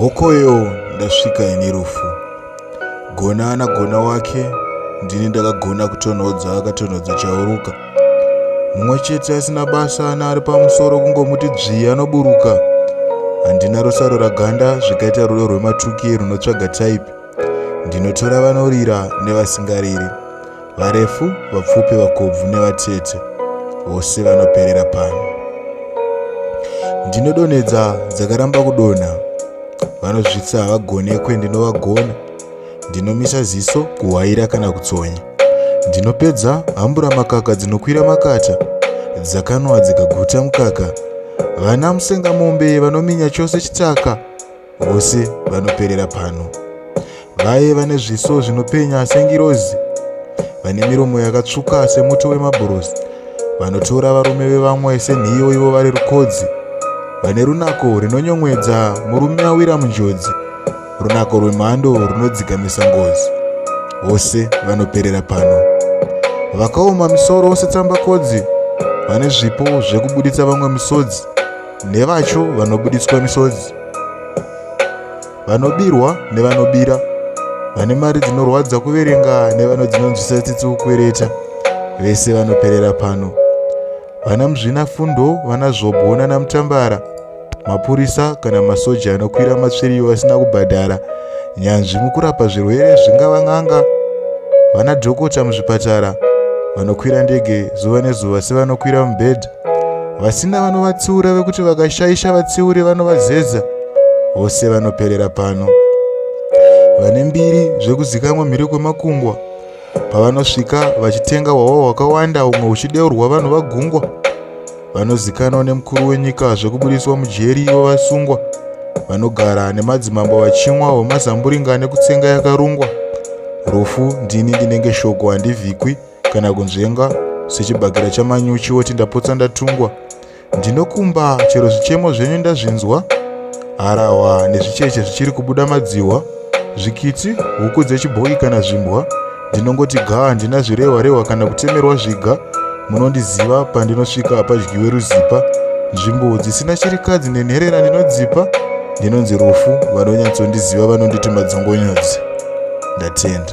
hokoyo ndasvika ini rufu gona ana gona wake ndini ndakagona kutonhodza akatonhodza chauruka mumwe chete asina basa ana ari pamusoro kungomuti dzvii anoburuka handina rusaro raganda zvikaita rudo rwematuki runotsvaga type ndinotora vanorira nevasingariri varefu vapfupi vakobvu nevatete vose vanoperera pano ndinodonhedza dzakaramba kudonha vanozvitsa havagonekwe ndinovagona ndinomisa ziso kuhwaira kana kutsonya ndinopedza hambura makaka dzinokwira makata dzakanwa dzikaguta mukaka vana musengamombe vanominya chose chitaka vose vanoperera pano. Vaye vane zviso zvinopenya sengirozi, vane miromo yakatsvuka semuto wemabhurosi, vanotora varume vevamwe senhiyo ivo vari rukodzi, vane runako rinonyomwedza murume awira munjodzi, runako rwemhando runodzikamisa ngozi. Vose vanoperera pano. Vakaoma misoro setsambakodzi, vane zvipo zvekubuditsa vamwe misodzi. nevacho vanobuditswa misodzi, vanobirwa nevanobira, vane mari dzinorwadza kuverenga nevano dzinonzwisa tsitsi kukwereta, vese vanoperera pano. Vana muzvinafundo, vana zvobwo nanamutambara, mapurisa kana masoja anokwira matsviriyo vasina kubhadhara, nyanzvi mukurapa zvirwere zvingava n'anga, vana dhokota muzvipatara, vanokwira ndege zuva nezuva sevanokwira mubhedha, vasina vanovatsiura vekuti vakashaisha vatsiuri vanovazeza vose vanoperera pano vane mbiri zvekuzikamwa mhiri kwemakungwa pavanosvika vachitenga hwahwa hwakawanda humwe huchideurwa vanhu vagungwa vanozikanwa nemukuru wenyika zvekubudiswa mujeri ivo vasungwa vanogara nemadzimambo vachimwa hwemazamburinga nekutsenga yakarungwa rufu ndini ndinenge shoko handivhikwi kana kunzvenga sechibakera chamanyuchi woti ndapotsa ndatungwa ndinokumba chero zvichemo zvenyu ndazvinzwa harahwa nezvicheche zvichiri kubuda madzihwa zvikitsi huku dzechibhoyi kana zvimbwa ndinongoti ga handina zvirehwa rehwa kana kutemerwa zviga munondiziva pandinosvika hapadyiwe ruzipa nzvimbo dzisina chirikadzi nenherera ndinodzipa ndinonzi rufu vanonyatsondiziva vanonditi madzongonyodzi ndatenda